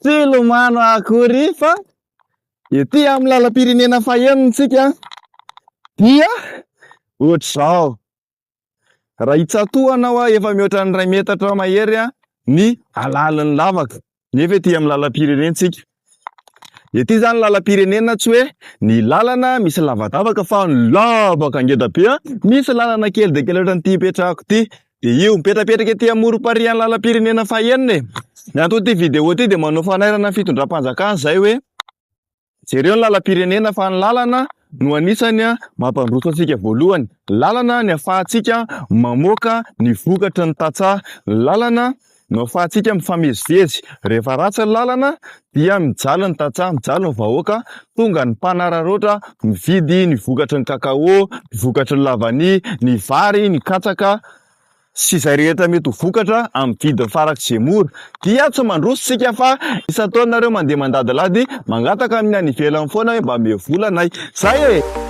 Tsy hilomano akory fa ety amin'ny lalam-pirenena fahenintsika dia ohatr'izao. Raha hitsatohanao aho efa mihoatra ny iray metatra eo mahery ny halalin'ny lavaka. nefa ety amin'ny lalam-pirenentsika. Ety izany lalam-pirenena tsy hoe ny lalana misy lavadavaka fa ny lavaka ngeda be a! Misy lalana kely dia kely ohatran'ity hipetrahako ity. Dia io, mipetrapetraka ety amorom-parian'ny lalam-pirenena fahenina e! Ny anton'ity video ity dia manao fanairana ny fitondram-panjakana izahay hoe. Jereo ny lalam-pirenena fa ny lalana no anisany mampandroso antsika voalohany. Ny lalana ny afahantsika mamoaka ny vokatry ny tantsaha. Ny lalana no afahantsika mifamezivezy. Rehefa ratsy ny lalana dia mijaly ny tantsaha, mijaly ny vahoaka, tonga ny mpanararaotra mividy ny vokatry ny cacao, ny vokatry ny lavania, ny vary, ny katsaka, sy izay rehetra mety ho vokatra amin'ny didin'ny farak'i Zemoro, dia tsy mandroso isika fa isan-taona nareo mandeha mandadilady mangataka amin'ny any ivelany foana hoe mba meo vola anay. Zay e!